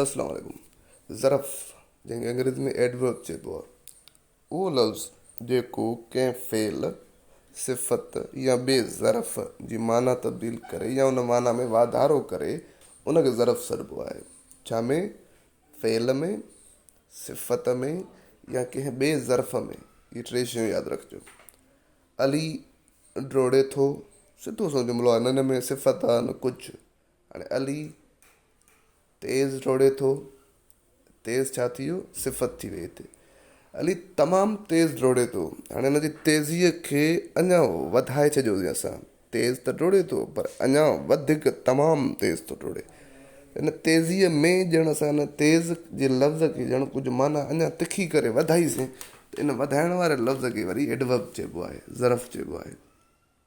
السلام عليڪم ظرف جنهن کي انگريزي ۾ Adverb چئبو آهي اهو لفظ جيڪو ڪنهن فعل، صفت يا ٻئي ظرف جي معنيٰ تبديل ڪري يا ان معنيٰ ۾ واڌارو ڪري ان کي ظرف سڏبو آهي. ڇا ۾ فعل ۾ صفت ۾ يا ڪنهن ٻئي ظرف ۾ اهي ٽي شيون ياد رکجو. علي ڊوڙي ٿو سڌو سنئون جملو آهي نه ان ۾ صفت آهي نه ڪجهه. هاڻي علي تيز ڊوڙي ٿو. تيز ڇا ٿي ويو؟ صفت ٿي وئي هتي. علي تمام تيز ڊوڙي ٿو. هاڻي هن جي تيزيء کي اڃا وڌائي ڇڏيوسين اسان. تيز ته ڊوڙي ٿو پر اڃا وڌيڪ تمام تيز ٿو ڊوڙي. ان تيزيء ۾ ڄڻ اسان ان تيز جي لفظ کي ڄڻ ڪجهه معنيٰ اڃا تکي ڪري وڌائيسين ته ان وڌائڻ واري لفظ کي وري Adverb چئبو آهي، ظرف چئبو آهي.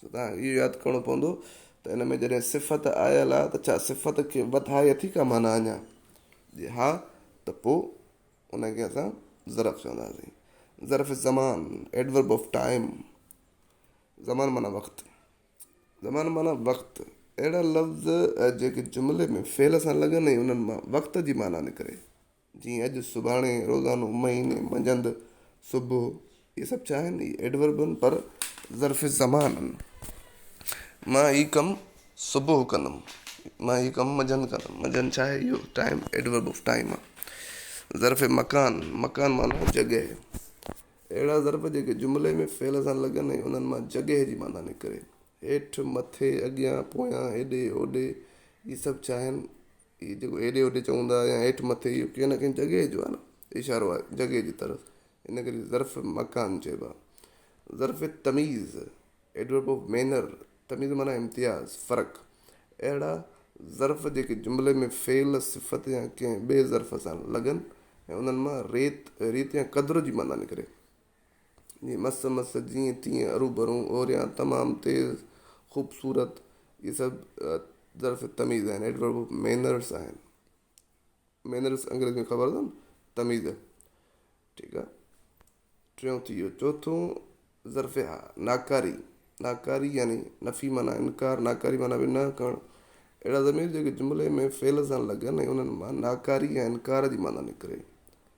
سو توهان کي اهو ياد ڪرڻو پوندو ته ان ۾ جڏهن صفت آيل آ ته ڇا صفت کي وڌائي اٿي ڪا معنيٰ اڃا؟ جي ها ته پوء ان کي اسان ظرف چونداسين. ظرف الزمان، Adverb of Time، زمان معنيٰ وقت. زمان معنيٰ وقت. اهڙا لفظ جيڪي جملي ۾ فعل سان لڳن ۽ انهن مان وقت جي معنيٰ نڪري. جيئن اڄ، سڀاڻي، روزانو، مهيني، منجهند، صبح اهي سڀ ڇا آهن؟ اهي Adverb آهن پر ظرف زمان آهن. مان هي ڪم صبح ڪندم، مان هي ڪم منجهند ڪندم، منجهند ڇا آهي؟ اهو Time Adverb of Time آهي. ظرف مڪان، مڪان معنيٰ جڳهه. اهڙا ظرف جيڪي جملي ۾ فعل سان لڳن ۽ انهن مان جڳهه جي معنيٰ نڪري. هيٺ، مٿي، اڳيان، پويان، هيڏي، هوڏي اهي سڀ ڇا آهن؟ هي جيڪو هيڏي هوڏي چئون ٿا يا هيٺ مٿي اهو ڪنهن نه ڪنهن جڳهه جو آهي نه اشارو آهي جڳهه جي طرف ان ڪري ظرف مڪان چئبو آهي ظرف تميز ايڊورب آف مينر تميز معنيٰ امتياز فرق اهڙا ظرف جيڪي جملي ۾ فعل صفت يا ڪنهن ٻئي ظرف سان لڳن ۽ انهن مان ريت ريت يا قدر جي معنيٰ نڪري جي مس مس جيئن تيئن اروڀرو اوريان تمام تيز خوبصورت اهي سڀ ظرف تميز آهن ايڊورب آف مينرس آهن مينرس انگريزي ۾ خبر اٿم تميز ٺيڪ آهي ٽيون ٿي ويو چوٿو ظرف ها ناڪاري ناڪاري يعني نفي معنی انڪار ناڪاري معنی به نه ڪرڻ اهڙا ضمير جيڪي جملي ۾ فعل سان لڳن ۽ انهن مان ناڪاري يا انڪار جي معنی نڪري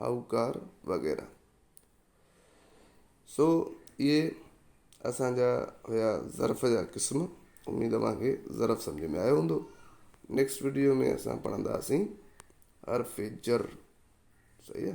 هاهوڪار وغيره. سو اهي اسان جا هيا ظرف جا قسم اميد اوهان کي ظرف سمجهه ۾ آيو هوندو نيڪسٽ وڊيو ۾ اسان پڙهنداسين حرف جر صحيح آ